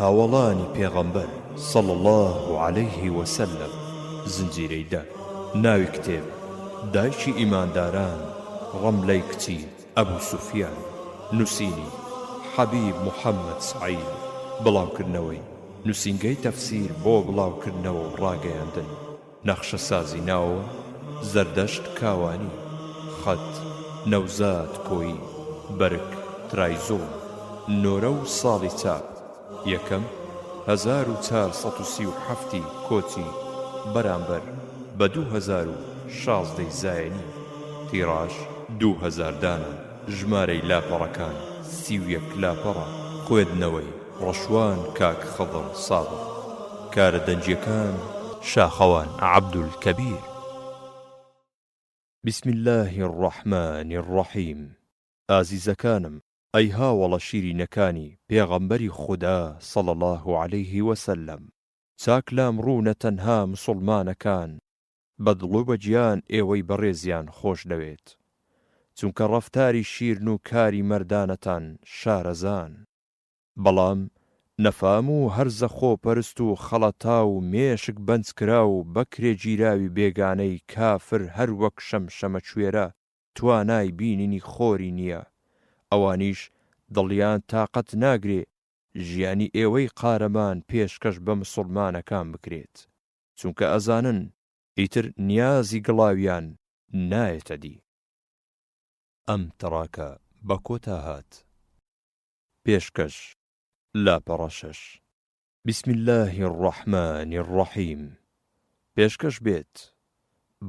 هاوەڵانی پێغەمبەر صلی اللە علیه وسلم، زنجیرەی دە، ناوی کتێب، دایکی ئیمانداران ڕەملەی کچی ئەبو سوفیان، نووسینی، حەبیب محمد سعید، بڵاوکردنەوەی، نووسینگەی تەفسیر بۆ بڵاوکردنەوە و ڕاگەیاندن. نەخشەسازی ناو، زەردەشت کاوانی، خەت، نەوزاد کۆیی، بەرگ، ترایزۆ، نۆرە و ساڵی چاپ، یەکەم، هەزار و چار سەد و سی و حەفت ی کۆچی، بەرامبەر بە دوو هەزار و شازدە ی زایەنی، تیڕاژ، دوو هەزار دانە، ژمارەی لاپەڕەکان، سی و یەک لاپەڕە، خوێندنەوەی. ڕەشوان کاک خضر سابق کارە دەنگیەکان. شاخەوان عبدالکبیر. بسم اللە الرحمن الرحیم ئازیزەکانم ئەی هاوەڵە شیرینەکانی پێغەمبەری خودا صلی اللە علیه وسلم چاک لام ڕوونە تەنها مسوڵمانەکان بە دڵ و بە گیان ئێوەی بەڕێزیان خۆش دەوێت چونکە ڕەفتاری شیرن و کاری مەردانەتان شارەزان. بەڵام نەفام و هەرزە خۆپەرست و خەڵەتاو و مێشک بەنجکراو و بەکرێگیراوی بێگانەی کافر هەر وەک شەمشەمەکوێرە توانای بینینی خۆری نیە، ئەوانیش دڵیان تاقەت ناگرێ ژیانی ئێوەی قارەمان پێشکەش بە مسوڵمانەکان بکرێت، چونکە ئەزانن ئیتر نیازی گڵاویان نایەتە دی. ئەم تڕاکە بە کۆتا هات. پێشکەش لاپەڕە شەش. بسم اللە الرحمن الرحیم پێشکەش بێت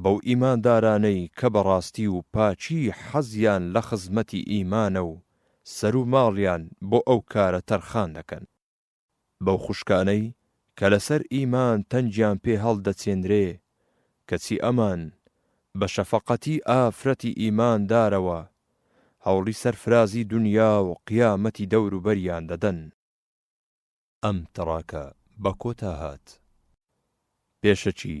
بەو ئیماندارانەی کە بەڕاستی و پاکی حەزیان لە خزمەتی ئیمانە و سەر و ماڵیان بۆ ئەو کارە تەرخان دەکەن. بەو خوشکانەی کە لەسەر ئیمان تەنگیان پێ هەڵدەچێنرێ، کەچی ئەمان بە شەفەقەتی ئافرەتی ئیماندارەوە هەوڵی سەرفرازی دونیا و قیامەتی دەوروبەریان دەدەن. ئەم تڕاکە بە کۆتا هات. پێشەکی.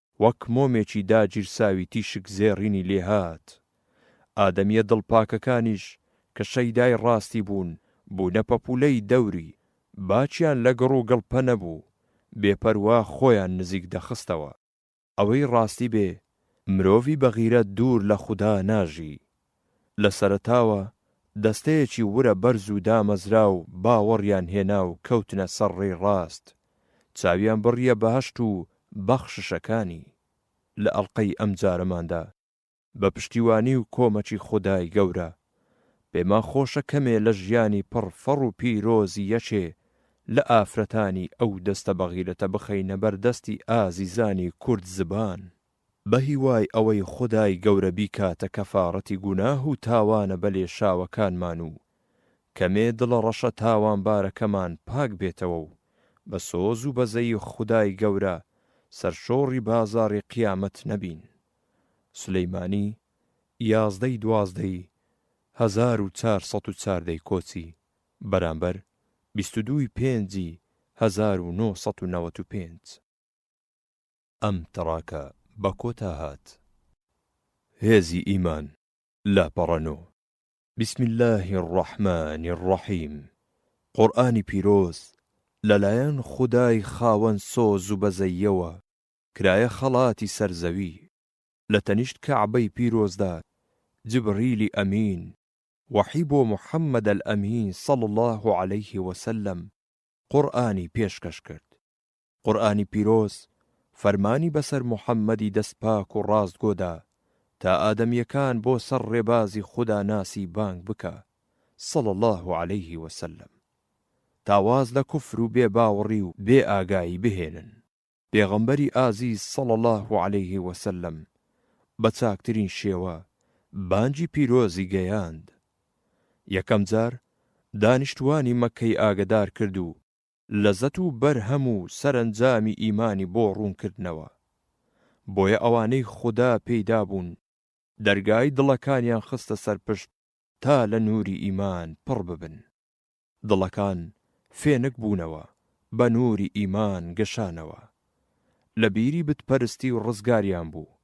وەک مۆمێکی داگیرساوی تیشک زێڕینی لێ هات. ئادەمییە دڵپاکەکانیش کە شەیدای ڕاستی بوون، بوونە پەپوولەی دەوری، باکیان لە گڕ و گڵپە نەبوو، بێپەروا خۆیان نزیک دەخستەوە. ئەوەی ڕاستی بێ، مرۆڤی بەغیرەت دوور لە خودا ناژی، لە سەرەتاوە دەستەیەکی ورە بەرز و دامەزراو باوەڕیان هێنا و کەوتنە سەر ڕێی ڕاست، چاویان بڕییە بەهەشت و بەخششەکانی. لە ئەڵقەی ئەمجارەماندا، بە پشتیوانی و کۆمەکی خودای گەورە، پێمان خۆشە کەمێ لە ژیانی پڕ فەڕ و پیرۆزی یەکێ لە ئافرەتانی ئەو دەستە بەغیرەتە بخەینە بەر دەستی ئازیزانی کورد زبان. بەهیوای ئەوەی خودای گەورە بیکاتە کەفاڕەتی گوناه و تاوانە بەلێشاوەکانمان و کەمێ دڵە ڕەشە تاوانبارەکەمان پاک بێتەوە و بە سۆز و بەزەیی خودای گەورە سەرشۆڕی بازاڕی قیامەت نەبین. سلیمانی، یازدە ی دوازدە ی هەزار و چار سەد و چار دەیکۆچی، بەرامبەر بیست و دوو ی پێنج ی هەزار و نۆ سەد و نەوەد و پێنج. ئەم تڕاکە بە کۆتا هات. هێزی ئیمان، لاپەڕە نۆ. بسم اللە الرحمن الرحیم قورئانی پیرۆز لەلایەن خودای خاوەن سۆز و بەزەییەوە کرایە خەڵاتی سەر زەوی، لە تەنیشت کەعبەی پیرۆزدا جبریلی ئەمین وەحی بۆ محمد الامین صلی اللە علیه وسلم قورئانی پێشکەش کرد. قورئانی پیرۆز فەرمانی بەسەر محەممەدی دەستپاک و ڕاستگۆ دا تا ئادەمییەکان بۆ سەر ڕێبازی خودا ناسی بانگ بکا، صلی اللە علیه و سلم، تا واز لە کوفر و بێ باوەڕی و بێ ئاگایی بهێنن. پێغەمبەری ئازیز صلی اللە علیه و سلم بە چاکترین شێوە بانگی پیرۆزی گەیاند. یەکەم جار دانیشتووانی مەککەی ئاگەدار کرد و لەزەت و بەرهەم و سەرەنجامی ئیمانی بۆ ڕوون کردنەوە. بۆیە ئەوانەی خودا پێی دابوون دەرگای دڵەکانیان خستە سەر پشت تا لە نووری ئیمان پڕ ببن. دڵەکان فێنک بوونەوە، بە نووری ئیمان گەشانەوە. لە بیری بت پەرستی و ڕزگاریان بوو.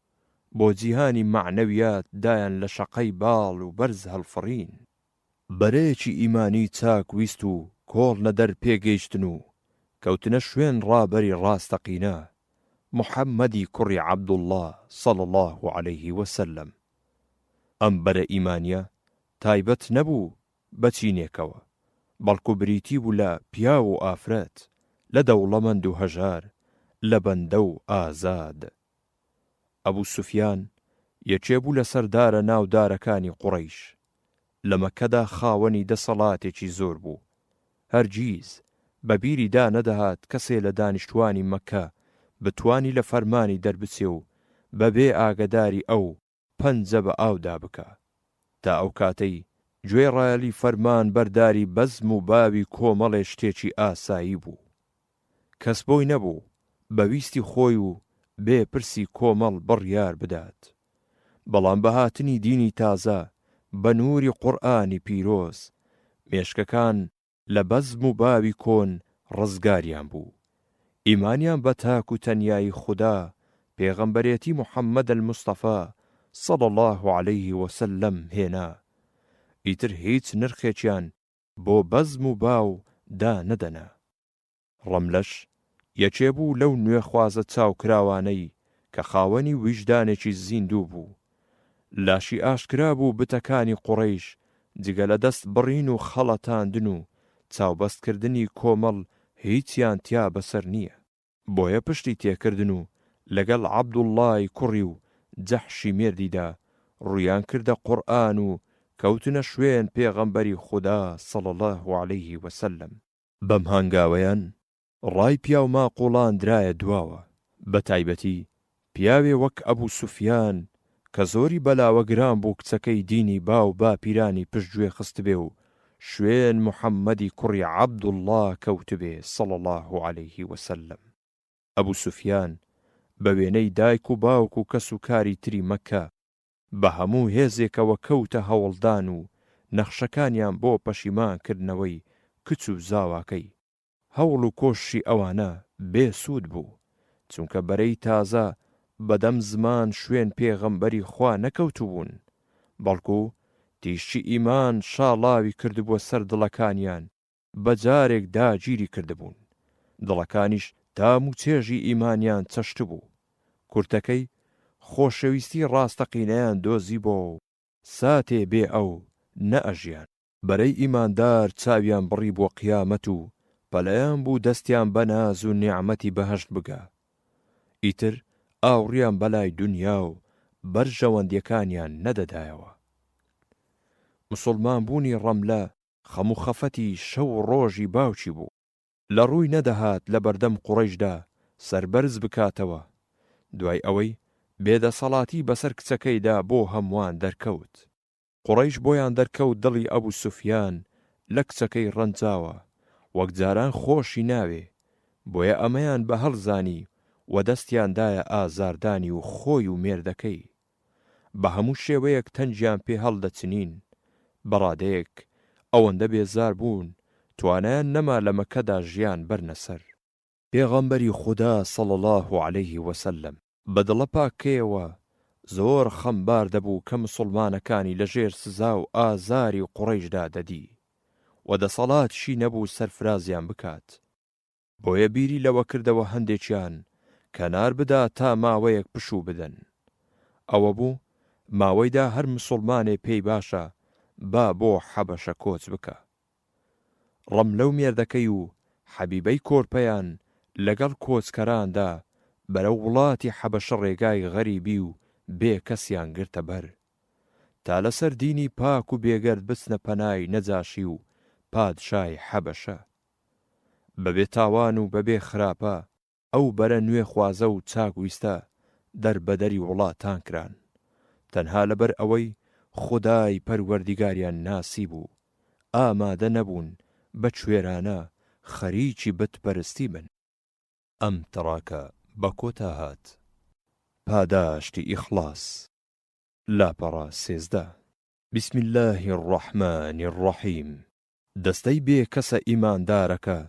بۆ جیهانی مەعنەویات دایان لە شەقەی باڵ و بەرز هەڵفڕین. بەرەیەکی ئیمانی چاک ویست و کۆڵ نەدەر پێ گەیشتن و کەوتنە شوێن ڕابەری ڕاستەقینە، محمدی کوڕی عبداللە صلی اللە علیە وسلم. ئەم بەرە ئیمانیە تایبەت نەبوو بە چینێکەوە، بەڵکو بریتی بوو لە پیاو و ئافرەت، لە دەوڵەمەند و هەژار، لە بەندە و ئازاد. ئەبو سوفیان یەکێ بوو لە سەردارە ناودارەکانی قوڕەیش، لە مەککەدا خاوەنی دەسەڵاتێکی زۆر بوو، هەرگیز بە بیری دا نەدەهات کەسێ لە دانیشتوانی مەککە بتوانی لە فەرمانی دەربچێ و بە بێ ئاگەداری ئەو، پەنجە بە ئاودا بکا. تا ئەو کاتەی گوێڕایەلی فەرمان بەرداری بەزم و باوی کۆمەڵێ شتێکی ئاسایی بوو. کەس بۆی نەبوو بە ویستی خۆی و بێ پرسی کۆمەڵ بڕیار بدات. بەڵام بە هاتنی دینی تازە، بە نووری قورئانی پیرۆز، مێشکەکان لە بەزم و باوی کۆن ڕزگاریان بوو، ئیمانیان بە تاک و تەنیایی خودا، پێغەمبەرێتی محمد المصطفی صلی اللە علیه وسلم هێنا، ئیتر هیچ نرخێکیان بۆ بەزم و باو دانەدەنا. ڕەملەش یەکێ بوو لەو نوێخوازە چاوکراوانەی کە خاوەنی ویژدانێکی زیندوو بوو. لاشی ئاشکرا بوو بتەکانی قوڕەیش جگە لە دەست بڕین و خەڵەتاندن و چاوبەست کردنی کۆمەڵ هیچیان تیا بەسەر نییە. بۆیە پشتی تێکردن و لەگەڵ عەبدوڵڵای کوڕی و جەحشی مێردیدا ڕوویان کردە قورئان و کەوتنە شوێن پێغەمبەری خودا صلی اللە علیه وسلم. بەم هەنگاوەیان ڕای پیاو ماقوڵان درایە دواوە، بە تایبەتی پیاوێ وەک ئەبو سوفیان کە زۆری بەلاوە گران بوو کچەکەی دینی باو باپیرانی پشت گوێ خستبێ و شوێن محمدی کوڕی عبداللە کەوتبێ صلی اللە علیە وسلم. ئەبو سوفیان بە وێنەی دایک و باوک و کەس و کاری تری مەککە بە هەموو هێزێکەوە کەوتە هەوڵدان و نەخشەکانیان بۆ پەشیمان کردنەوەی کچ و زاواکەی. هەوڵ و کۆششی ئەوانە بێ سوود بوو، چونکە بەرەی تازە بە دەم زمان شوێن پێغەمبەری خوا نەکەوتبوون، بەڵکو تیشکی ئیمان شاڵاوی کردبووە سەر دڵەکانیان بە جارێک داگیری کردبوون، دڵەکانیش تام و چێژی ئیمانیان چەشتبوو، کورتەکەی خۆشەویستی ڕاستەقینەیان دۆزیبۆ و ساتێ بێ ئەو نە ئەژیان. بەرەی ئیماندار چاویان بڕی بۆ قیامەت و پەلەیان بوو دەستیان بە ناز و نیعمەتی بەهەشت بگا. ئیتر ئاوڕیان بە لای دونیا و بەرژەوەندیەکانیان نەدەدایەوە. مسوڵمانبوونی ڕەملە خەم و خەفەتی شەو و ڕۆژی باوکی بوو. لە ڕووی نەدەهات لە بەردەم قوڕەیشدا سەربەرز بکاتەوە، دوای ئەوەی بێ دەسەڵاتی بەسەر کچەکەیدا بۆ هەمووان دەرکەوت. قوڕەیش بۆیان دەرکەوت دڵی ئەبو سوفیان لە کچەکەی ڕەنجاوە، وەک جاران خۆشی ناوێ، بۆیە ئەمەیان بە هەڵ زانی و دەستیان دایە ئازاردانی و خۆی و مێردەکەی. بە هەموو شێوەیەک تەنگیان پێ هەڵدەچنین، بە ڕادەیەک ئەوەندە بێزار بوون توانایان نەما لە مەککەدا ژیان بەرنە سەر. پێغەمبەری خودا صلی اللە علیە وسلم، بە دڵە پاکەیەوە زۆر خەمبار دەبوو کە مسوڵمانەکانی لە ژێر سزا و ئازاری قوڕەیشدا دەدی و دەسەڵاتیشی نەبوو سەرفرازیان بکات، بۆیە بیری لەوە کردەوە هەندێکیان کەنار بدا تا ماوەیەک پشوو بدەن. ئەوە بوو ماوەیدا هەر مسوڵمانێ پێی باشە با بۆ حەبەشە کۆچ بکا. ڕەملە و مێردەکەی و حەبیبەی کۆرپەیان لەگەڵ کۆچکەراندا بەرەو وڵاتی حەبەشە ڕێگای غەریبی و بێ کەسیان گرتە بەر تا لەسەر دینی پاک و بێگەرد بچنە پەنای نەجاشی و پادشای حەبەشە. بەبێ تاوان و بەبێ خراپە ئەو بەرە نوێخوازە و چاک ویستە دەربەدەری وڵاتان کران تەنها لەبەر ئەوەی خودای پەروەردیگاریان ناسیبوو ئامادە نەبوون بە کوێرانە خەریکی بت پەرستی بن. ئەم تڕاکە بە کۆتا هات. پاداشتی ئیخڵاس. لاپەڕە سێزدە. بسم اللە الرحمن الرحیم. دەستەی بێ کەسە ئیماندارەکە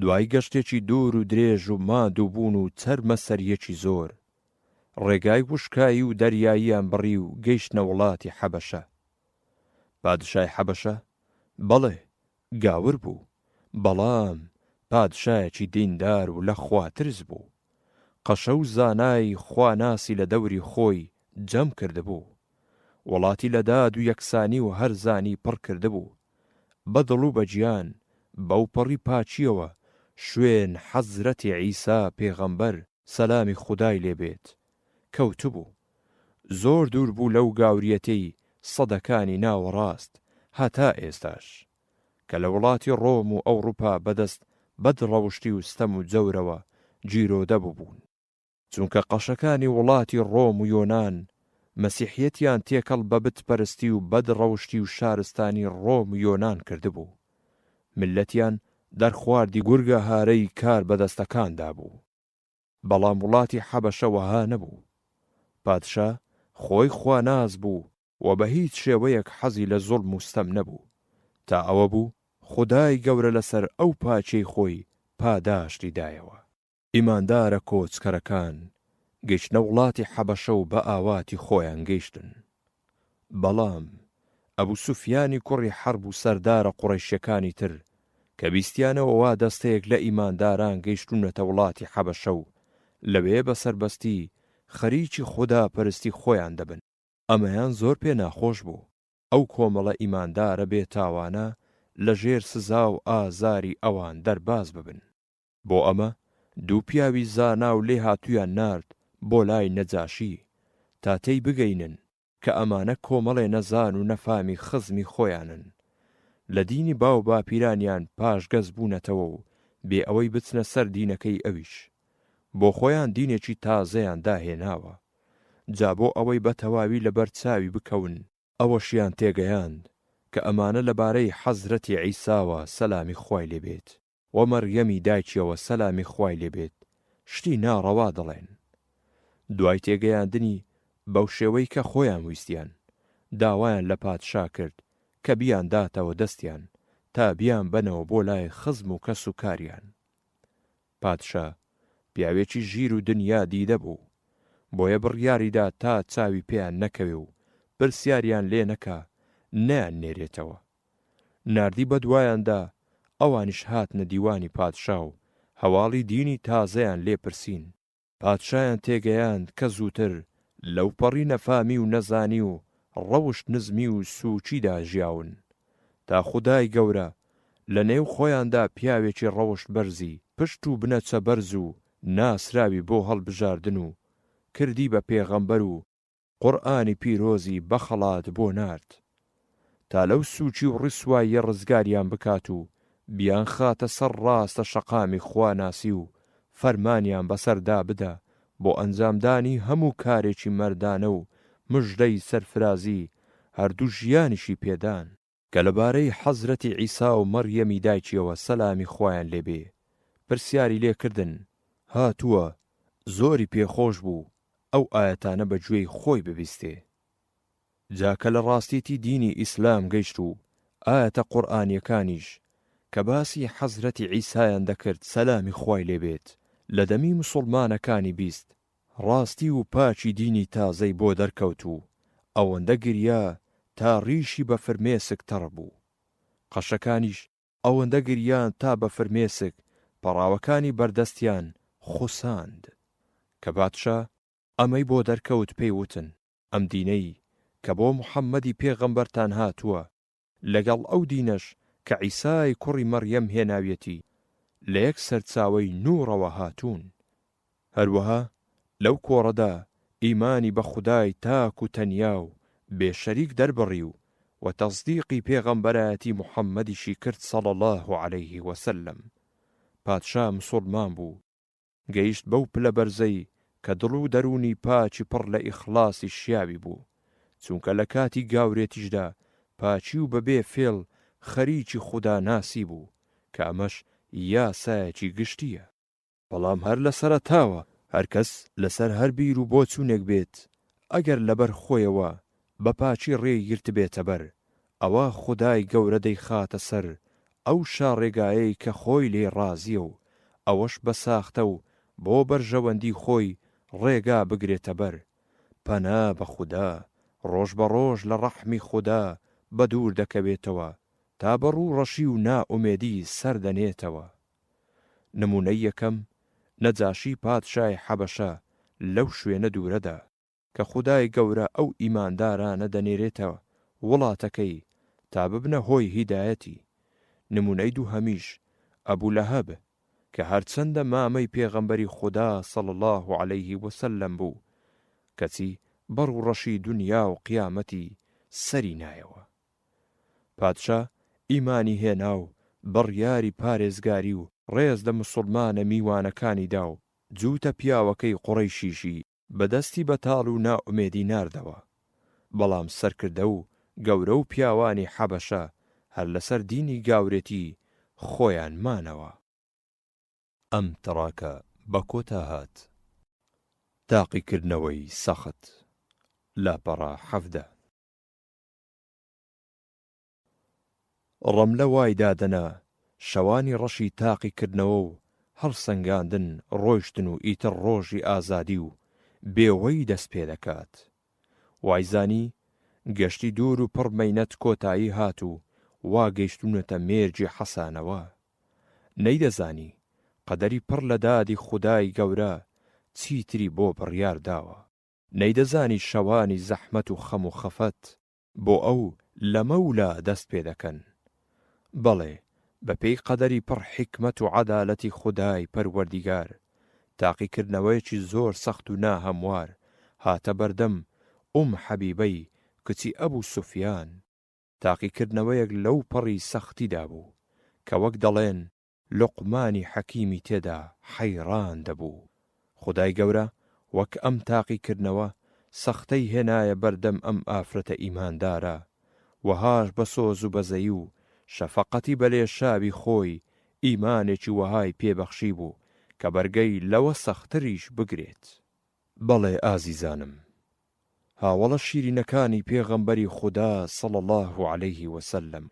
دوای گەشتێکی دوور و درێژ و ماندوو بوون و چەرمە سەریەکی زۆر، ڕێگای وشکایی و دەریاییان بڕی و گەیشتنە وڵاتی حەبەشە. پادشای حەبەشە، بەڵێ، گاور بوو، بەڵام پادشایەکی دیندار و لە خوا ترس بوو. قەشە و زانای خواناسی لە دەوری خۆی جەم کردبوو. وڵاتی لە داد و یەکسانی و هەرزانی پڕ کردبوو. بە دڵ و بە گیان، بەو پەڕی پاکییەوە شوێن حەزرەتی عیسا پێغەمبەر، سەلامی خودای لێ بێت، کەوتبوو. زۆر دوور بوو لەو گاورییەتەی سەدەکانی ناوەڕاست هەتا ئێستاش، کە لە وڵاتی ڕۆم و ئەوڕوپا بەدەست بەدڕەوشتی و ستەم و جەورەوە گیرۆدە ببوون. چونکە قەشەکانی وڵاتی ڕۆم و یۆنان مەسیحیەتیان تێکەڵ بە بت پەرستی و بەد ڕەوشتی و شارستانی ڕۆم و یۆنان کردبوو ملەتیان دەرخواردی گورگە هارەی کار بەدەستەکاندا بوو بەڵام وڵاتی حەبەشە وەها نەبوو پادشا خۆی خواناس بوو و بە هیچ شێوەیەک حەزی لە زوڵم و ستەم نەبوو تا ئەوە بوو خودای گەورە لەسەر ئەو پاکیەی خۆی پاداشتی دایەوە. ئیماندارە کۆچکەرەکان گەیشتنە وڵاتی حەبەشە و بە ئاواتی خۆیان گەیشتن. بەڵام ئەبو سوفیانی کوڕی حەرب و سەردارە قوڕەیشەکانی تر کە بیستیانەوە وا دەستەیەک لە ئیمانداران گەیشتوونەتە وڵاتی حەبەشە و لەوێ بە سەربەستی خەریکی خودا پەرستی خۆیان دەبن. ئەمەیان زۆر پێ ناخۆش بوو. ئەو کۆمەڵە ئیماندارە بێتاوانە لە ژێر سزا و ئازاری ئەوان دەرباز ببن. بۆ ئەمە دوو پیاوی زانا و لێهاتوویان نارد بۆ لای نەجاشی، تا تێی بگەینن کە ئەمانە کۆمەڵێ نەزان و نەفامی خزمی خۆیانن، لە دینی باو باپیرانیان پاشگەز بوونەتەوە و بێ ئەوەی بچنە سەر دینەکەی ئەویش، بۆ خۆیان دینێکی تازەیان داهێناوە، جا بۆ ئەوەی بە تەواوی لە بەر چاوی بکەون، ئەوەشیان تێگەیاند کە ئەمانە لە بارەی حەزرەتی عیساوە سەلامی خوای لێ بێت و مەڕیەمی دایکیەوە سەلامی خوای لێ بێت شتی ناڕەوا دەڵێن دوای تێگەیاندنی بەو شێوەی کە خۆیان ویستیان داوایان لە پادشا کرد کە بیان داتەوە دەستیان تا بیان بەنەوە بۆ لای خزم و کەس و کاریان پادشا پیاوێکی ژیر و دنیا دیدە بوو بۆیە بڕیاری دا تا چاوی پێیان نەکەوێ و پرسیاریان لێ نەکا نەیان نێرێتەوە. ناردی بە دوایان دا، ئەوانیش هاتنە دیوانی پادشا و هەواڵی دینی تازەیان لێ پرسین. پادشایان تێگەیاند کە زووتر لەوپەڕی نەفامی و نەزانی و ڕەوشت نزمی و سووکیدا ژیاون، تا خودای گەورە لە نێو خۆیاندا پیاوێکی ڕەوشت بەرزی پشت و بنەچە بەرز و ناسراوی بۆ هەڵبژاردن و کردی بە پێغەمبەر و قورئانی پیرۆزی بە خەڵات بۆ نارد تا لەو سووچی و ڕیسواییە ڕزگاریان بکات و بیانخاتە سەر ڕاستە شەقامی خواناسی و فەرمانیان بەسەردا بدا بۆ ئەنجامدانی هەموو کارێکی مەردانە و مژدەی سەرفرازی هەردوو ژیانیشی پێدان. کە لەبارەی حەزرەتی عیسا و مەڕیەمی دایکیەوە سەلامی خوایان لێ بێ پرسیاری لێ کردن، هاتووە، زۆری پێ خۆش بوو ئەو ئایەتانە بە گوێی خۆی ببیستێ. جا کە لە ڕاستیی دینی ئیسلام گەیشت و ئایەتە قورئانیەکانیش کە باسی حەزرەتی عیسایان دەکرد سەلامی خوای لێ بێت لە دەمی موسوڵمانەکانی بیست، ڕاستی و پاکی دینی تازەی بۆ دەرکەوت و ئەوەندە گریا تا ڕیشی بە فرمێسک تەڕ بوو. قەشەکانیش ئەوەندە گریان تا بە فرمێسک پەڕاوەکانی بەردەستیان خوساند. کە بادشا ئەمەی بۆ دەرکەوت پێی وتن، ئەم دینەی کە بۆ محەممەدی پێغەمبەرتان هاتووە لەگەڵ ئەو دینەش کە عیسای کوڕی مەڕیەم هێناویەتی، لە یەک سەرچاوەی نووڕەوە هاتوون. هەروەها لەو کۆڕەدا ئیمانی بە خودای تاک و تەنیا و بێ شەریک دەربڕی و و تەسدیقی پێغەمبەرایەتی محەممەدیشی کرد صلی اللە علیه وسلم پادشا مسوڵمان بوو، گەیشت بەو پلە بەرزەی کە دڵ و دەروونی پاکی پڕ لە ئیخڵاسی شیاوی بوو، چونکە لە کاتی گاورێتیشدا پاکی و بەبێ فێڵ خەریکی خوداناسی بوو، کە ئەمەش یاسایەکی گشتییە. بەڵام هەر لە سەرەتاوە هەرکەس لەسەر هەر بیر و بۆچوونێک بێت، ئەگەر لەبەر خۆیەوە بە پاکی ڕێی گرتبێتە بەر، ئەوا خودای گەورە دەیخاتە سەر ئەو شاڕێگایەی کە خۆی لێی ڕازییە و ئەوەش بە ساختە و بۆ بەرژەوەندی خۆی ڕێگا بگرێتە بەر، پەنا بە خودا، ڕۆژ بە ڕۆژ لە ڕەحمی خودا بە دوور دەکەوێتەوە تا بە ڕوو ڕەشی و نائومێدی سەر دەنێتەوە. نموونەی یەکەم، نەجاشی پادشای حەبەشە لەو شوێنە دوورەدا. کە خودای گەورە ئەو ئیماندارانە دەنێرێتە وڵاتەکەی تا ببنە هۆی هیدایەتی، نمونەی دووهەمیش ئەبو لەهەب کە هەرچەندە مامەی پێغەمبەری خودا صلی اللە علیە وسلم بوو کەچی بەڕوو ڕەشی دونیا و قیامەتی سەری نایەوە پادشا ئیمانی هێناو بڕیاری پارێزگاری و ڕێز لە مسوڵمانە میوانەکانی داو جووتە پیاوەکەی قوڕەیشیشی بە دەستی بەتاڵ و نائومێدی ناردەوە. بەڵام سەرکردە و گەورە و پیاوانی حەبەشە هەر لەسەر دینی گاورێتی خۆیان مانەوە. ئەم تڕاکە بە کۆتا هات. تاقیکردنەوەی سەخت، لاپەڕە حەڤدە. ڕەملە وای دادەنا شەوانی ڕەشی تاقی کردنەوە و هەڵسەنگاندن ڕۆیشتن و ئیتر ڕۆژی ئازادی و بێوەیی دەست پێ دەکات. وایزانی گەشتی دوور و پڕ مەینەت کۆتایی هات و وا گەیشتوونەتە مێرگی حەسانەوە. نەیدەزانی قەدەری پڕ لە دادی خودای گەورە چیتری بۆ بڕیار داوە. نەیدەزانی شەوانی زەحمەت و خەم و خەفەت بۆ ئەو لەمە و لا دەست پێ دەکەن. بەڵێ بە پێی قەدەری پڕ حیکمەت و عەدالەتی خودای پەروەردیگار، تاقیکردنەوەیەکی زۆر سەخت و نا هەموار هاتە بەردەم ئوم حەبیبەی کچی ئەبو سوفیان، تاقیکردنەوەیەک لەو پەڕی سەختیدا بوو، کە وەک دەڵێن، لوقمانی حەکیمی تێدا حەیڕان دەبوو. خودای گەورە وەک ئەم تاقیکردنەوە سەختەی هێنایە بەردەم ئەم ئافرەتە ئیماندارە، وەهاش بە سۆز و بەزەی و شەفەقەتی بە لێشاوی خۆی ئیمانێکی وەهای پێ بەخشیبوو کە بەرگەی لەوە سەختتریش بگرێت. بەڵێ ئازیزانم، هاوەڵە شیرینەکانی پێغەمبەری خودا صلی اللە علیە وسلم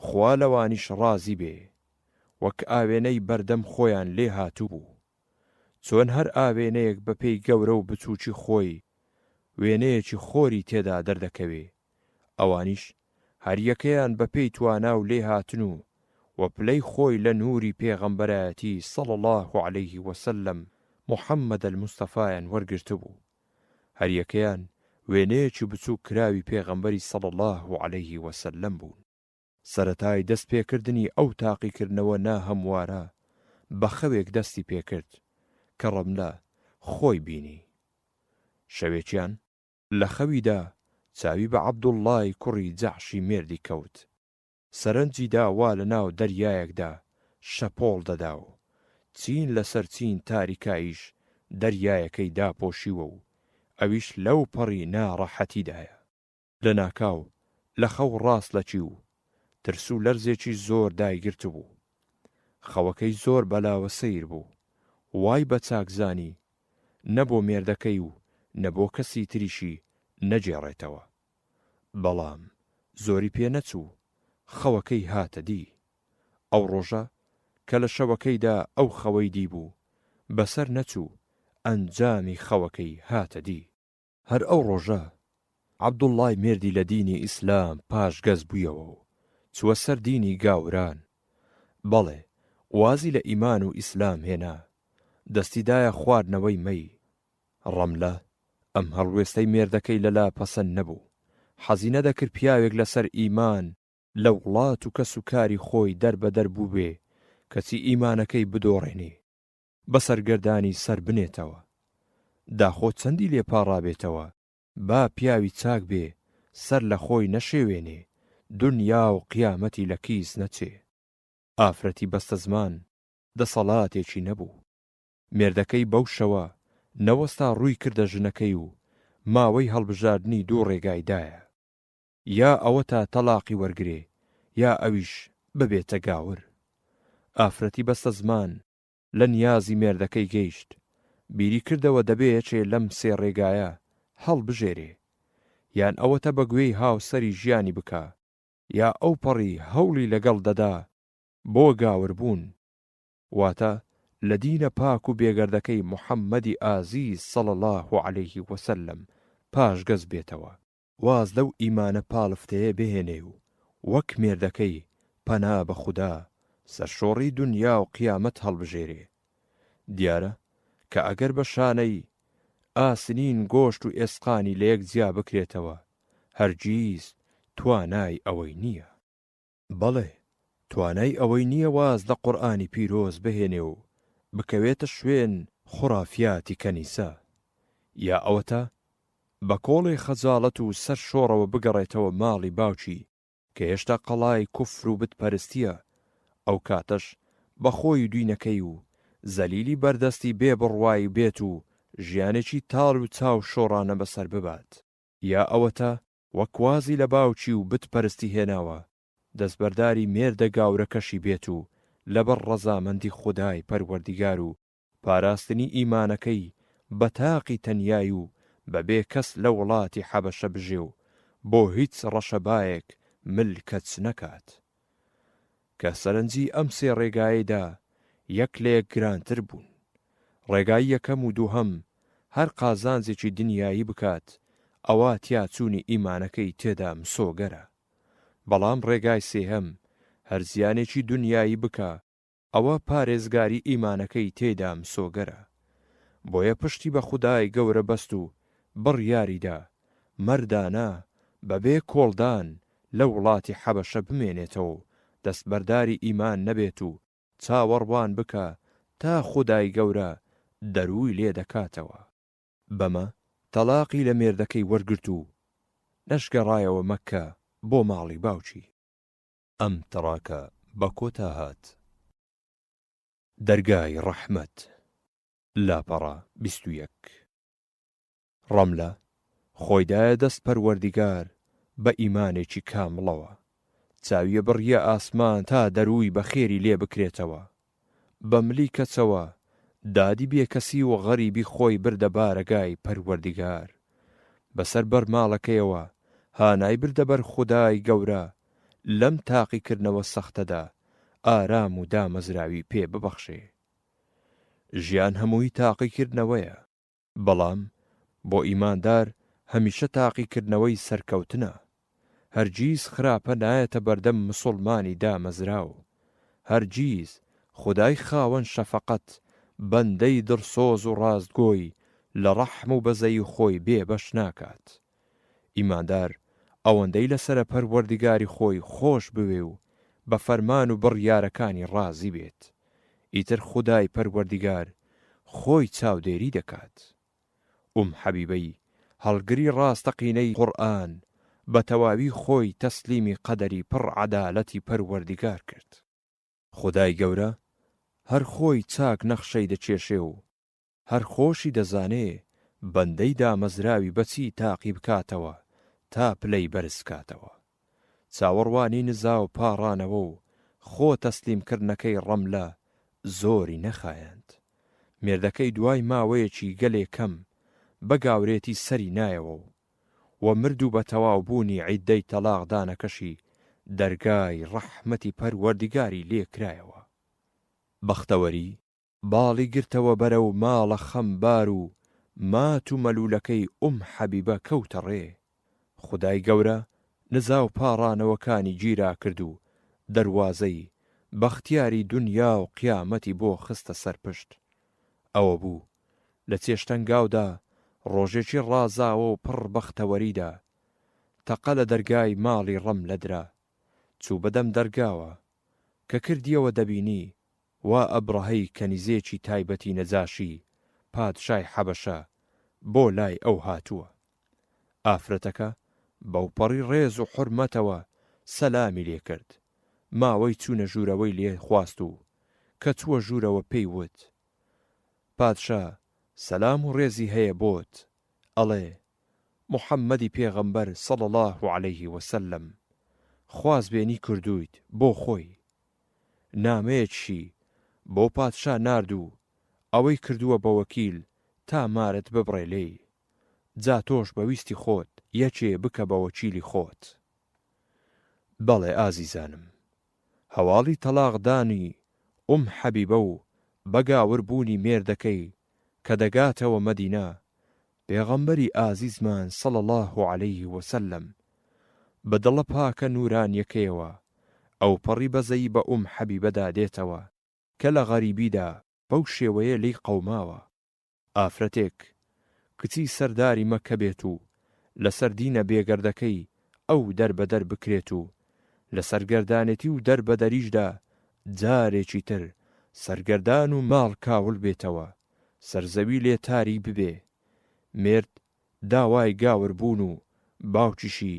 خوا لەوانیش ڕازی بێ وەک ئاوێنەی بەردەم خۆیان لێ هاتوبوو چۆن هەر ئاوێنەیەک بەپێی گەورە و بچوکی خۆی وێنەیەکی خۆری تێدا دەردەکەوێ ئەوانیش هەریەکەیان بەپێی توانا و لێهاتن و و پلەی خۆی لە نوری پێغەمبەرایەتی صلی اللە علیە وسلم محمد المصطفیان وەرگرتبوو. هەریەکەیان وێنەیەکی بچووک کراوی پێغەمبەری صلی اللە علیه و سلم بوون. سەرەتای دەست پێکردنی ئەو تاقیکردنەوە ناهەموارە بە خەوێک دەستی پێکرد کە ڕەملە خۆی بینی شەوێکیان، لە خەویدا چاوی بە عبداللە ی کوڕی جەحشی مێردی کەوت، سەرنجی دا وا لە ناو دەریایەکدا شەپۆڵ دەدا و چین لە سەر چین تاریکاییش دەریایەکەی داپۆشیوە و ئەویش لەو پەڕی ناڕەحەتیدایە. لە ناکاو لە خەو ڕاست لەکی و ترس و لەرزێکی زۆر دایگرتبوو. خەوەکەی زۆر بەلاوە سەیر بوو. وای بە چاک زانی نە بۆ مێردەکەی و نە بۆ کەسی تریشی نەگێڕێتەوە. بەڵام زۆری پێ نەچوو خەوەکەی هاتە دی. ئەو ڕۆژە کە لە شەوەکەیدا ئەو خەوەی دیبوو، بەسەر نەچوو ئەنجامی خەوەکەی هاتە دی. هەر ئەو ڕۆژە عەبدوڵڵای مێردی لە دینی ئیسلام پاشگەز بوویەوە و چووە سەر دینی گاوران، بەڵێ وازی لە ئیمان و ئیسلام هێنا، دەستی دایە خواردنەوەی مەی، ڕەملە ئەم هەڵوێستەی مێردەکەی لە لا پەسەند نەبوو، حەزی نەدەکرد پیاوێک لە سەر ئیمان، لە وڵات و کەس و کاری خۆی دەر بە دەر بووبێ کەچی ئیمانەکەی بدۆڕێنێ، بە سەرگەردانی سەر بنێتەوە. داخۆ چەندی لێ پاڕابێتەوە، با پیاوی چاک بێ، سەر لە خۆی نەشێوێنێ، دونیا و قیامەتی لە کیس نەچێ. ئافرەتی بەستەزمان دەسەڵاتێکی نەبوو. مێردەکەی بەو شەوە نەوەستا ڕووی کردە ژنەکەی و ماوەی هەڵبژاردنی دوو ڕێگای دایە، یا ئەوەتا تەڵاقی وەرگرێ یا ئەویش ببێتە گاور. ئافرەتی بەستەزمان لە نیازی مێردەکەی گەیشت، بیری کردەوە دەبێ یەکێ لەم سێ ڕێگایە هەڵبژێرێ، یان ئەوەتا بە گوێی هاوسەری ژیانی بکا، یا ئەوپەڕی هەوڵی لەگەڵ دەدا بۆ گاوربوون. واتە، لە دینە پاک و بێگەردەکەی محەممەدی ئازیز صلی اللە علیە و سلم پاشگەز بێتەوە، واز لەو ئیمانە پاڵفتەیە بهێنێ و وەک مێردەکەی پەنا بە خودا، سەرشۆڕی دونیا و قیامەت هەڵبژێرێ. دیارە کە ئەگەر بە شانەی، ئاسنین، گۆشت و ئێسقانی لەیەک جیا بکرێتەوە، هەرگیز توانای ئەوەی نییە. بەڵێ، توانای ئەوەی نییە واز لە قورئانی پیرۆز بهێنێ و بکەوێتە شوێن خورافیاتی کەنیسە. یا ئەوەتا بە کۆڵێ خەجاڵەت و سەر شۆڕەوە بگەڕێتەوە ماڵی باوکی کە هێشتا قەڵای کوفر و بت پەرستییە، ئەو کاتەش بە خۆی و دینەکەی و زەلیلی بەردەستی بێ بڕوای بێت و ژیانێکی تاڵ و چاو شۆڕانە بەسەر ببات. یا ئەوەتا وەک وازی لە باوکی و بت پەرستی هێناوە، دەستبەرداری مێردە گاورەکەشی بێت و لەبەر ڕەزامەندی خودای پەروەردیگار و پاراستنی ئیمانەکەی بە تاقی تەنیایی و بە بێ کەس لە وڵاتی حەبەشە بژێ و بۆ هیچ ڕەشەبایەک مل کەچ نەکات. کە سەرنجی ئەم سێ ڕێگایەی دا یەک لە یەک گرانتر بوون. ڕێگای یەکەم و دووهەم هەر قازانجێکی دنیایی بکات ئەوا تیاچوونی ئیمانەکەی تێدا مسۆگەرە. بەڵام ڕێگای سێهەم هەر زیانێکی دنیایی بکا ئەوە پارێزگاری ئیمانەکەی تێیدا مسۆگەرە بۆیە پشتی بە خودای گەورە بەست و بڕیاریدا مەردانە بەبێ کۆڵدان لە وڵاتی حەبەشە بمێنێتەوە و دەستبەرداری ئیمان نەبێت و چاوەڕوان بکا تا خودای گەورە دەرووی لێ دەکاتەوە. بەمە تەڵاقی لە مێردەکەی وەرگرت و نەشگەڕایەوە مەککە بۆ ماڵی باوکی. ئەم تڕاکە بە کۆتا هات. دەرگای ڕەحمەت، لاپەڕە بیست و یەک. ڕەملە خۆی دایە دەست پەروەردگار بە ئیمانێکی کامڵەوە، چاویەبڕیە ئاسمان تا دەرووی بەخێری لێ بکرێتەوە، بە ملی کەسەوە دادی بێکەسی و غەریبی خۆی بردە بارەگای پەروەردگار. بەسەر بەر ماڵەکەیەوە هانای بردە بەر خودای گەورە لەم تاقیکردنەوە سەختەدا ئارام و دامەزراوی پێ ببەخشێ. ژیان هەمووی تاقیکردنەوەیە. بەڵام بۆ ئیماندار هەمیشە تاقیکردنەوەی سەرکەوتنە. هەرگیز خراپە نایەتە بەردەم مسوڵمانی دامەزراو. هەرگیز خودای خاوەن شەفەقەت بەندەی دڵسۆز و ڕاستگۆی لە ڕەحم و بەزەیی خۆی بێبەش ناکات. ئیماندار ئەوەندەی لەسەرە پەروەردگاری خۆی خۆش بوێ و بە فەرمان و بڕیارەکانی ڕازی بێت ئیتر خودای پەروەردگار خۆی چاودێری دەکات ئوم حەبیبەی هەڵگری ڕاستەقینەی قورئان بە تەواوی خۆی تەسلیمی قەدەری پڕ عەدالەتی پەروەردگار کرد. خودای گەورە هەر خۆی چاک نەخشەی دەکێشێ و هەر خۆشی دەزانێ بەندەی دامەزراوی بە چی تاقی بکاتەوە تا پلەی بەرز بکاتەوە. چاوەڕوانی نزا و پاڕانەوە و خۆ تەسلیم کردنەکەی ڕەملە زۆری نەخایاند. مێردەکەی دوای ماوەیەکی گەلێ کەم بە گاورێتی سەری نایەوە و و مرد و بە تەواو بوونی عیددەی تەڵاق دانەکەشی دەرگای ڕەحمەتی پەروەردگاری لێ کرایەوە. بەختەوەری باڵی گرتەوە بەرەو ماڵە خەمبار و مات و مەلولەکەی ئوم حەبیبە کەوتە ڕێ. خودای گەورە نزا و پاڕانەوەکانی گیرا کرد و دەروازەی بەختیاری دونیا و قیامەتی بۆ خستە سەر پشت. ئەوە بوو لە چێشتەنگاودا ڕۆژێکی ڕازاوە و پڕ بەختەوەریدا، تەقە لە دەرگای ماڵی ڕەملە درا. چوو بە دەم دەرگاوە. کە کردیەوە دەبینی وا ئەبڕەهەی کەنیزێکی تایبەتی نەجاشی، پادشای حەبەشە، بۆ لای ئەو هاتووە. ئافرەتەکە بەوپەڕی ڕێز و حورمەتەوە سەلامی لێ کرد، ماوەی چوونە ژوورەوەی لێ خواست و کە چووە ژوورەوە پێی وت، پادشا سەلام و ڕێزی هەیە بۆت، ئەڵێ، موحەممەدی پێغەمبەر صلی اللە علیه وسلم خوازبێنی کردوویت بۆ خۆی، نامەیەکشی بۆ پادشا نارد و ئەوەی کردووە بە وەکیل تا مارت ببڕێ لێی، جا تۆش بە ویستی خۆت یەکێ بکە بە وەکیلی خۆت. بەڵێ ئازیزانم، هەواڵی تەڵاق دانی ئوم حەبیبە و بەگاور بوونی مێردەکەی کە دەگاتەوە مەدینە، پێغەمبەری ئازیزمان صلی اللە علیە وسلم بە دڵە پاکە نورانیەکەیەوە ئەوپەڕی بەزەیی بە ئوم حەبیبەدا دێتەوە کە لە غەریبیدا بەو شێوەیە لێی قەوماوە، ئافرەتێک کچی سەرداری مەککە بێت و لەسەر دینە بێگەردەکەی ئەو دەربەدەر بکرێت و لە سەرگەردانێتی و دەربەدەریشدا جارێکی تر سەرگەردان و ماڵ کاول بێتەوە، سەرزەوی لێ تاریک ببێ. مێرد داوای گاور بوون و باوکیشی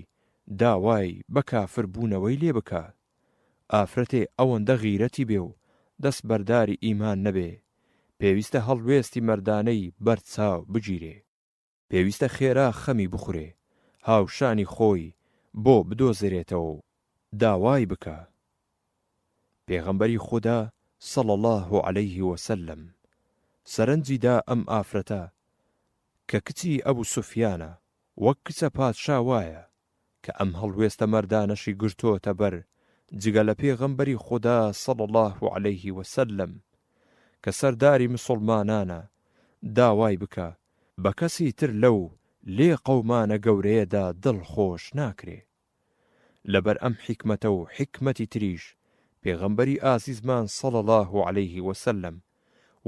داوای بە کافر بوونەوەی لێ بکا. ئافرەتێ ئەوەندە غیرەتی بێ و دەست بەرداری ئیمان نەبێ، پێویستە هەڵوێستی مەردانەی بەر چاو بگیرێ. پێویستە خێرا خەمی بخورێ هاوشانی خۆی بۆ بدۆزرێتەوە و داوای بکا. پێغەمبەری خودا صلی اللە علیه وسلم سەرنجی دا ئەم ئافرەتە کە کچی ئەبو سوفیانە وەک کچە پادشا وایە کە ئەم هەڵوێستە مەردانەشی گرتۆتە بەر جگە لە پێغەمبەری خودا صلی اللە علیه و سلم کە سەرداری مسوڵمانانە داوای بکە بە کەسی تر لەو لێ قەومانە گەورەیەدا دڵ خۆش ناکرێ لەبەر ئەم حیکمەتە و حیکمەتی تریش پێغەمبەری ئازیزمان صلی اللە علیه و سلم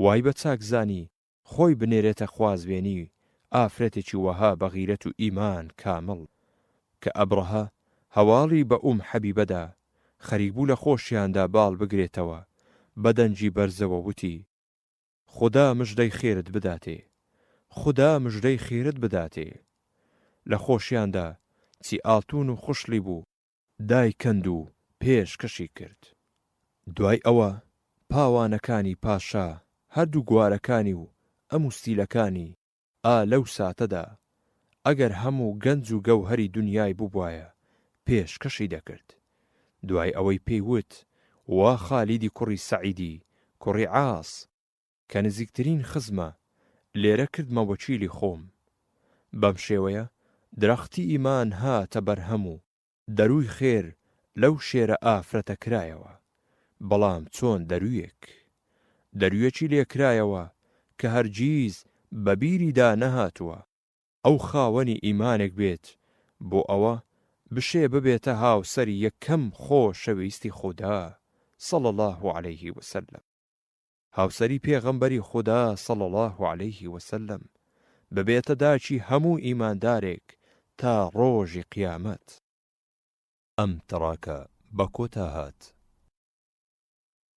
وای بە چاک زانی خۆی بنێرێتە خوازبێنی ئافرەتێکی وەها بە غیرەت و ئیمان کامڵ. کە ئەبڕەهە هەواڵی بە ئوم حەبیبەدا، خەریک بوو لە خۆشیاندا باڵ بگرێتەوە، بە دەنگی بەرزەوە وتی، خودا مژدەی خێرت بداتێ! خودا مژدەی خێرت بداتێ! لە خۆشیاندا چی ئاڵتوون و خشڵی بوو، دایکەند و پێشکەشی کرد. دوای ئەوە پاوانەکانی پاشا هەردوو گوارەکانی و ئەم و ستیلەکانی ئا لەو ساتەدا ئەگەر هەموو گەنج و گەوهەری دونیای بوبوایە پێشکەشی دەکرد. دوای ئەوەی پێی وت، وا خالیدی کوڕی سەعیدی کوڕی عاس، کە نزیکترین خزمە، لێرە کردمە وەکیلی خۆم. بەم شێوەیە درەختی ئیمان هاتە بەرهەم و دەرووی خێر لەو شێرە ئافرەتە کرایەوە، بەڵام چۆن دەروویەک؟ دەروویەکی لێ کرایەوە کە هەرگیز بە بیریدا نەهاتووە ئەو خاوەنی ئیمانێک بێت بۆ ئەوە بشێ ببێتە هاوسەری یەکەم خۆشەویستی خودا، صلی اللە علیه وسلم. هاوسەری پێغەمبەری خودا صلی اللە علیه وسلم ببێتە داکی هەموو ئیماندارێک تا ڕۆژی قیامەت. ئەم تڕاکە بە کۆتا هات.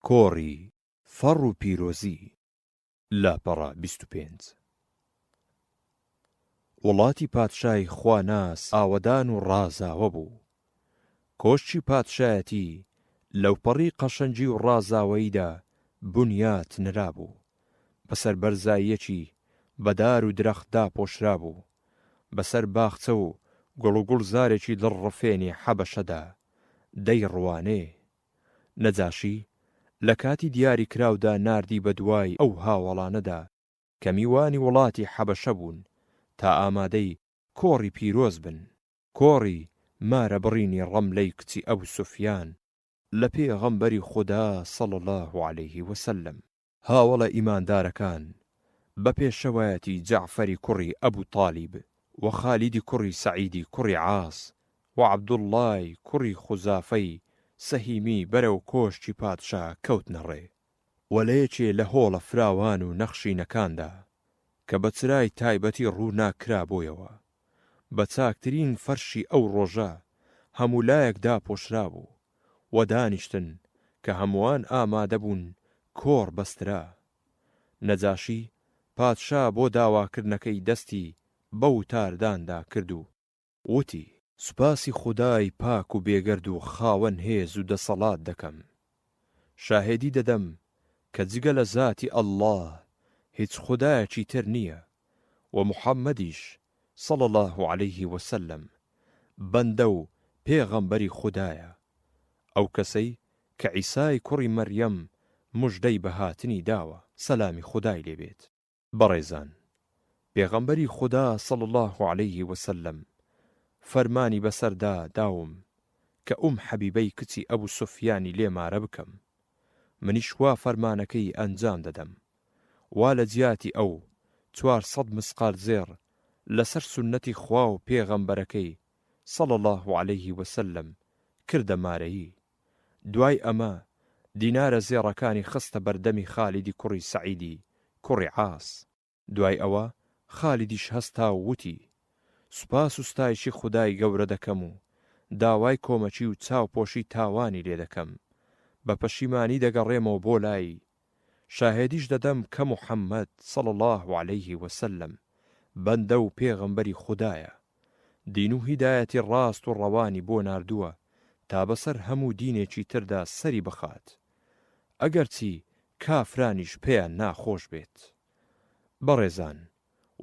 کۆڕی فەڕ و پیرۆزی، لاپەڕە بیست و پێنج. وڵاتی پادشای خواناس ئاوەدان و ڕازاوە بوو. کۆشکی پادشایەتی لەوپەڕی قەشەنگی و ڕازاوەییدا بنیات نرابوو. بەسەر بەرزاییەکی بە دار و درەخت داپۆشرابوو. بەسەر باخچە و گوڵ و گوڵزارێکی دڵڕفێنی حەبەشەدا دەیڕوانێ. نەجاشی لە کاتی دیاریکراودا ناردی بە دوای ئەو هاوەڵانەدا. کە میوانی وڵاتی حەبەشە بوون تا ئامادەی کۆڕی پیرۆز بن، کۆڕی مارە بڕینی ڕەملەی کچی ئەبو سوفیان، لە پێغەمبەری خودا صلی اللە علیە وسلم. هاوەڵە ئیماندارەکان بە پێشەوایەتی جەعفەری کوڕی ئەبو تالیب و خالیدی کوڕی سەعیدی کوڕی عاس و عەبدوڵڵای کوڕی خوزافەی سەهیمی بەرەو کۆشکی پادشا کەوتنە ڕێ، و لە یەکێ لە هۆڵە فراوان و نەخشینەکاندا کە بە چرای تایبەتی ڕووناک کرابوویەوە، بە چاکترین فەرشی ئەو ڕۆژە هەموو لایەک داپۆشرابوو و دانیشتن کە هەمووان ئامادە بوون کۆڕ بەسترا. نەجاشی پادشا بۆ داواکردنەکەی دەستی بە وتارداندا کرد و، وتی. سوپاسی خودای پاک و بێگەرد و خاوەن هێز و دەسەڵات دەکەم، شاهێدی دەدەم کە جگە لە زاتی اللە هیچ خودایەکی تر نییە و محمدیش، صلی اللە علیه وسلم، بەندە و پێغەمبەری خودایە، ئەو کەسەی کە عیسای کوڕی مەریەم موژدەی بە هاتنی داوە، سەلامی خودای لێ بێت. بەڕێزان، پێغەمبەری خودا صلی اللە علیە وسلم فەرمانی بەسەردا داوم کە ئوم حەبیبەی کچی ئەبو سوفیانی لێ مارە بکەم، منیش وا فەرمانەکەی ئەنجام دەدەم، وا لە جیاتی ئەو چوار سەد مسقال زێڕ لەسەر سوننەتی خوا و پێغەمبەرەکەی صلی اللە علیە وسلم کردە مارەیی. دوای ئەمە دینارە زێڕەکانی خستە بەردەمی خالیدی کوڕی سەعیدی کوڕی عاس. دوای ئەوە خالیدیش هەستا و وتی، سوپاس و ستایشی خودای گەورە دەکەم و داوای کۆمەکی و چاوپۆشی تاوانی لێ دەکەم. بە پەشیمانی دەگەڕێمەوە بۆ لای شاهێدیش دەدەم کە محمد، صلی اللە علیه وسلم، بەندە و پێغەمبەری خودایە، دین و هیدایەتی ڕاست و ڕەوانی بۆ ناردووە تا بەسەر هەموو دینێکی تردا سەری بخات، ئەگەرچی کافرانیش پێیان ناخۆش بێت. بەڕێزان!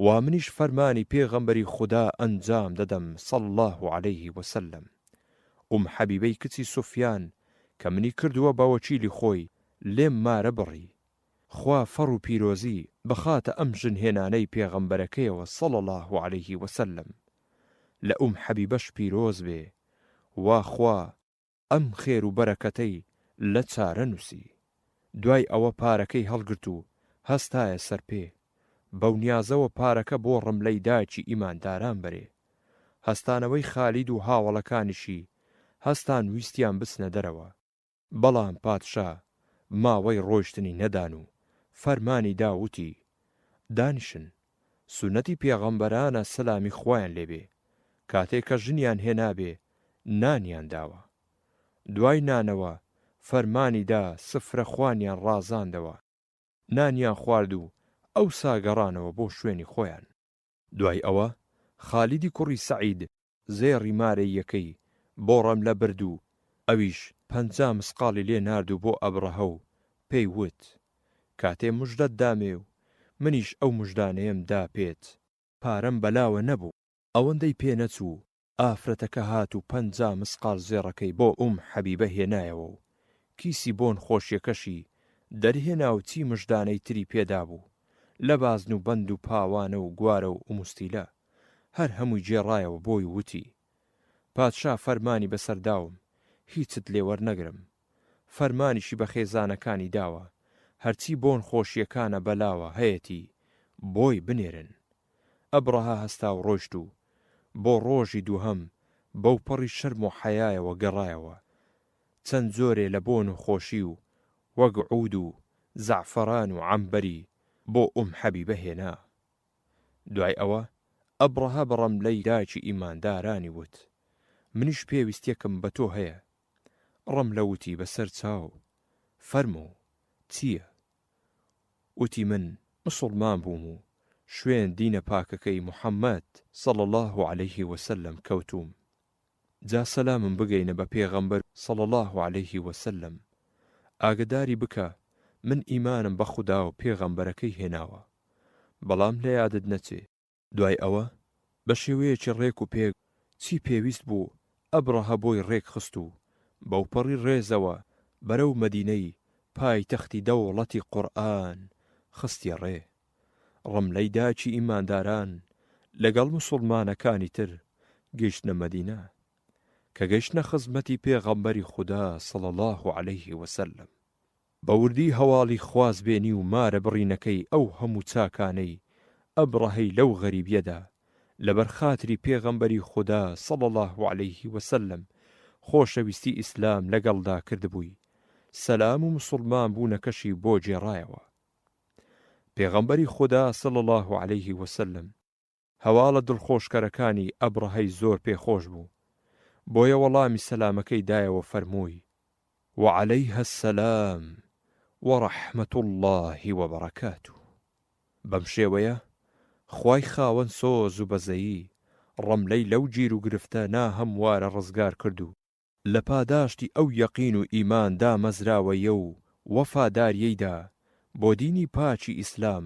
وا منیش فەرمانی پێغەمبەری خودا ئەنجام دەدەم صلی اللە علیه و سلم، ئوم حەبیبەی کچی سوفیان کە منی کردووە بە وەکیلی خۆی لێم مارە بڕی، خوا فەڕ و پیرۆزی بخاتە ئەم ژن هێنانەی پێغەمبەرەکەیەوە صلی اللە علیه و سلم، لە ئوم حەبیبەش پیرۆز بێ، وا خوا، ئەم خێر و بەرەکەتەی لە چارە نووسی. دوای ئەوە پارەکەی هەڵگرت و هەستایە سەر پێ. بەو نیازەوە پارەکە بۆ ڕملەی دایکی ئیمانداران بەرێ. هەستانەوەی خالید و هاوەڵەکانیشی هەستان ویستیان بچنە دەرەوە. بەڵام پادشا ماوەی ڕۆیشتنی نەدان و فەرمانی دا وتی، دانیشن. سونەتی پێغەمبەرانە سەلامی خوایان لێ بێ کاتێ کە ژنیان هێنابێ نانیان داوە دوای نانەوە فەرمانی دا سفرە خوانیان ڕازاندەوە نانیان خوارد و ئەوسا گەڕانەوە بۆ شوێنی خۆیان. دوای ئەوە خالیدی کوڕی سەعید زێڕی مارەییەکەی بۆ ڕەملە برد و ئەویش پەنجا مسقاڵی لێ نارد و بۆ ئەبڕەهە و پێی وت، کاتێ مژدەت دامێ و منیش ئەو مژدانەیەم دا پێت، پارەم بەلاوە نەبوو. ئەوەندەی پێ نەچوو، ئافرەتەکە هات و پەنجا مسقاڵ زێڕەکەی بۆ ئوم حەبیبە هێنایەوە و کیسی بۆن خۆشیەکەشی دەرهێنا و چی مژدانەی تری پێ دابوو لە بازن و بەند و پاوانە و گوارە و ئوموستیلە. هەر هەمووی گێڕایەوە بۆی و وتی، پادشا فەرمانی بەسەر داوم هیچت لێ وەرنەگرم، فەرمانیشی بە خێزانەکانی داوە هەرچی بۆن خۆشییەکانە بەلاوە هەیەتی بۆی بنێرن. ئەبڕەهە هەستا و ڕۆیشت و بۆ ڕۆژی دووهەم بەوپەڕی شەرم و حەیایەوە گەڕایەوە، چەند جۆرێ لە بۆن و خۆشی و وەک عوود و زەعفەران و عەمبەری بۆ ئوم حەبیبە هێنا. دوای ئەوە ئەبڕەهە بە ڕەملەی داکی ئیماندارانی وت، منیش پێویستیەکم بە تۆ هەیە. ڕەملە وتی بە سەر چاو، فەرموو، چییە؟ وتی من مسوڵمان بووم و شوێن دینە پاکەکەی محمد، صلی اللە علیه وسلم، کەوتووم. جا سەلامم بگەینە بە پێغەمبەر صلی اللە علیە و سلم ئاگەداری بکە من ئیمانم بە خوداو پێغەمبەرەکەی هێناوە بەڵام لە یادت نەچێ، دوای ئەوە بە شێوەیەکی ڕێک و پێک چی پێویست بوو ئەبڕەهە بۆی ڕێک خست و بەوپەڕی ڕێزەوە بەرەو مەدینەی پایتەختی دەوڵەتی قوڕئان خستیە ڕێ. ڕەملەی داکی ئیمانداران لەگەڵ موسوڵمانەکانی تر گەیشتنە مەدینە، کە گەیشتنە خزمەتی پێغەمبەری خودا صلی اللە علیە وسلم بە وردی هەواڵی خوازبێنی و مارە بڕینەکەی ئەو هەموو چاکانەی ئەبڕەهەی لەو غەریبیەدا لەبەر خاتری پێغەمبەری خودا صلی اللە علیە وسلم خۆشەویستی ئیسلام لەگەڵدا کردبووی سەلام و موسوڵمان بوونەکەشی بۆ گێڕایەوە. پێغەمبەری خودا صلی اللە علیە وسلم هەواڵە دڵخۆشکەرەکانی ئەبڕەهەی زۆر پێ خۆش بوو، بۆیە وەڵامی سەلامەکەی دایەوە فەرمووی، وعلیە السلام ورحمە اللە وبرکاته، بەم شێوەیە خوای خاوەن سۆز و بەزەیی ڕەملەی لەو گیروگرفتە ناهەموارە ڕزگار کرد و لە پاداشتی ئەو یەقین و ئیمان دامەزراوەیە و وەفاداریەیدا بۆ دینی پاکی ئیسلام،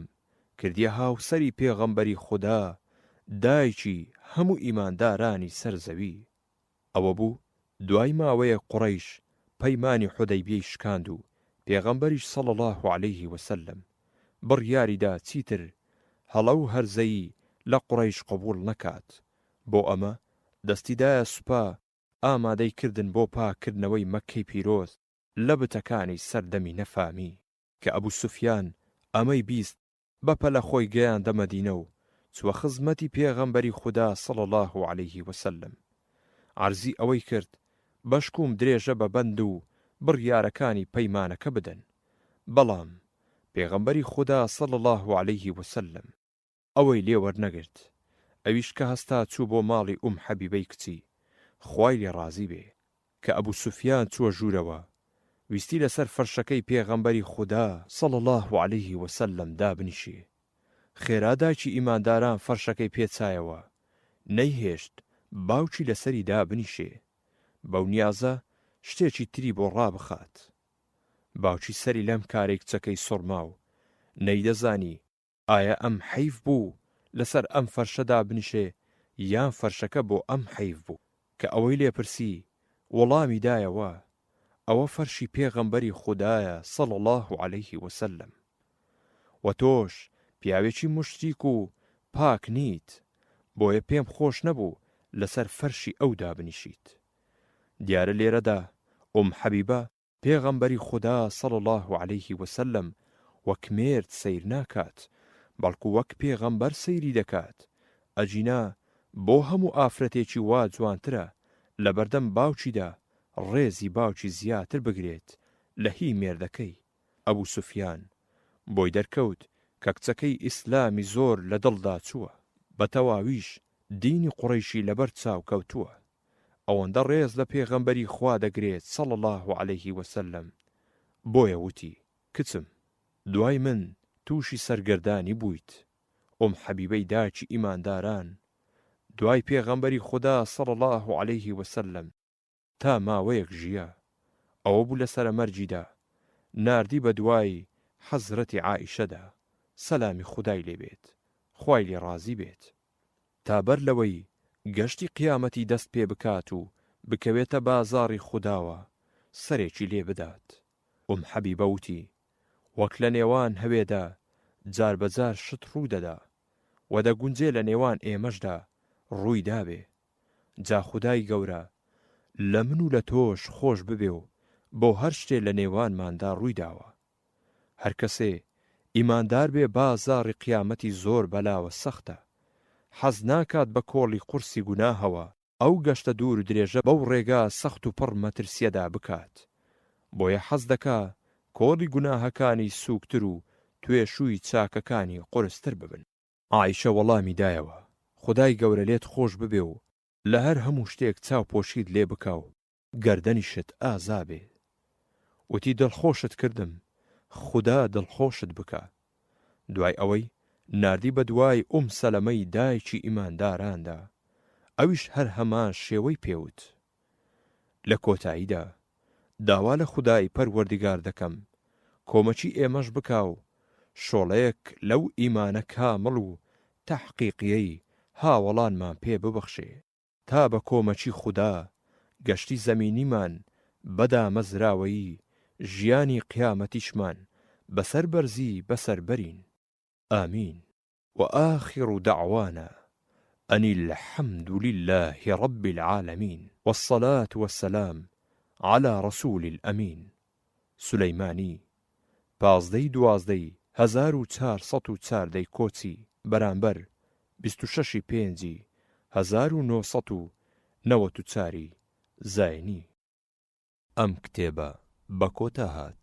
کردیە هاوسەری پێغەمبەری خودا، دایکی هەموو ئیماندارانی سەر زەوی. ئەوە بوو دوای ماوەیەک قوڕەیش پەیمانی حودەیبیەی شکاند و پێغەمبەریش صلی اللە علیە وسلم بڕیاریدا چیتر هەڵە و هەرزەیی لە قوڕەیش قبوڵ نەکات، بۆ ئەمە دەستی دایە سوپا، ئامادەی کردن بۆ پاک کردنەوەی مەککەی پیرۆز لە بتەکانی سەردەمی نەفامی. کە ئەبو سوفیان ئەمەی بیست بەپەلە خۆی گەیاندە مەدینە و چووە خزمەتی پێغەمبەری خودا صلی اللە علیه و سلم عەرزی ئەوەی کرد بەشکووم درێژە بە بەند و بڕیارەکانی پەیمانەکە بدەن بەڵام پێغەمبەری خودا صلی اللە علیه و سلم ئەوەی لێ وەرنەگرت ئەویش کە هەستا چوو بۆ ماڵی ئوم حەبیبەی کچی، خوای لێ ڕازی بێ، کە ئەبو سوفیان چووە ژوورەوە ویستی لەسەر فەرشەکەی پێغەمبەری خودا، صلی اللە علیە وسلم، دابنیشێ، خێرا دایکی ئیمانداران فەرشەکەی پێ چایەوە، نەیهێشت باوکی لەسەری دابنیشێ، بەو نیازە شتێکی تری بۆ ڕابخات. باوکی سەری لەم کارەی کچەکەی سوڕما و نەیدەزانی، ئایا ئەم حەیف بوو لەسەر ئەم فەرشە دابنیشێ یان فەرشەکە بۆ ئەم حەیف بوو؟ کە ئەوەی لێ پرسی وەڵامی دایەوە، ئەوە فەرشی پێغەمبەری خودایە صلی اللە علیە وسلم. وە تۆش پیاوێکی موشریک و پاک نیت، بۆیە پێم خۆش نەبوو لەسەر فەرشی ئەو دابنیشیت. دیارە لێرەدا ئوم حەبیبە پێغەمبەری خودا صلی اللە علیە وسلم وەک مێرد سەیر ناکات بەڵکو وەک پێغەمبەر سەیری دەکات، ئەگینا بۆ هەموو ئافرەتێکی وا جوانترە لەبەردەم باوکیدا ڕێزی باوکی زیاتر بگرێت لە هی مێردەکەی، ئەبو سوفیان بۆی دەرکەوت کە کچەکەی ئیسلامی زۆر لە دڵدا چووە، بەتەواویش دینی قوڕەیشی لەبەر چاو کەوتووە. ئەوەندە ڕێز لە پێغەمبەری خوا دەگرێت صلی اللە علیە وسلم بۆیە وتی، کچم دوای من تووشی سەرگەردانی بوویت، ئوم حەبیبەی داکی ئیمانداران دوای پێغەمبەری خودا صلی اللە علیە وسلم تا ماوەیەک ژیا، ئەوەبوو لە سەرە مەرگیدا ناردی بە دوای حەزرەتی عائیشەدا سەلامی خودای لێبێت خوای لێ ڕازی بێت. تا بەر لەوەی گەشتی قیامەتی دەست پێ بکات و بکەوێتە بازاڕی خوداوە سەرێکی لێ بدات. ئوم حەبیبە وتی، وەک لە نێوان هەوێدا جار بە جار شت ڕوو دەدا، وە دەگونجێ لە نێوان ئێمەشدا ڕووی دابێ. جا خودای گەورە لە من و لە تۆش خۆش ببێ و بۆ هەر شتێ لە نێوانماندا ڕووی داوە. هەرکەسێ ئیماندار بێ با زاڕی قیامەتی زۆر بەلاوە سەختە حەز ناکات بە کۆڵی قورسی گوناهەوە ئەو گەشتە دوور درێژە بەو ڕێگا سەخت و پڕ مەترسیەدا بکات بۆیە حەز دەکا کۆڵی گوناهەکانی سوکتر و توێشووی چاکەکانی قورستر ببن. عائیشە وەڵامی دایەوە، خودای گەورە لێت خۆش ببێ و لە هەر هەموو شتێک چاوپۆشیت لێ بکا و گەردەنیشت ئازا بێ. وتی دڵخۆشت کردم، خودا دڵخۆشت بکا. دوای ئەوەی ناردی بە دوای ئوم سەلەمەی دایکی ئیمانداراندا، ئەویش هەر هەمان شێوەی پێ وت. لە کۆتاییدا داوا لە خودای پەروەردگار دەکەم کۆمەکی ئێمەش بکا و شۆڵەیەک لەو ئیمانە کامڵ و تەحقیقیەی هاوەڵانمان پێ ببەخشێ. تا بە کۆمەکی خودا گەشتی زەمینیمان بە دامەزراوەیی، ژیانی قیامەتیشمان بەسەر بەرزی بەسەر بەرین. آمین. وآخر دعوانا ان الحمدللە رب العالمین والصلاة والسلام علی رسول الامین سولەیمانی، پازدە ی دوازدە ی هەزار و چوار سەد و چوار دەی کۆچی بەرامبەر بیست و شەش ی پێنجی هەزار و نۆ سەد و نەوەد و چار ی زاینی. ئەم کتێبە بە کۆتا هات.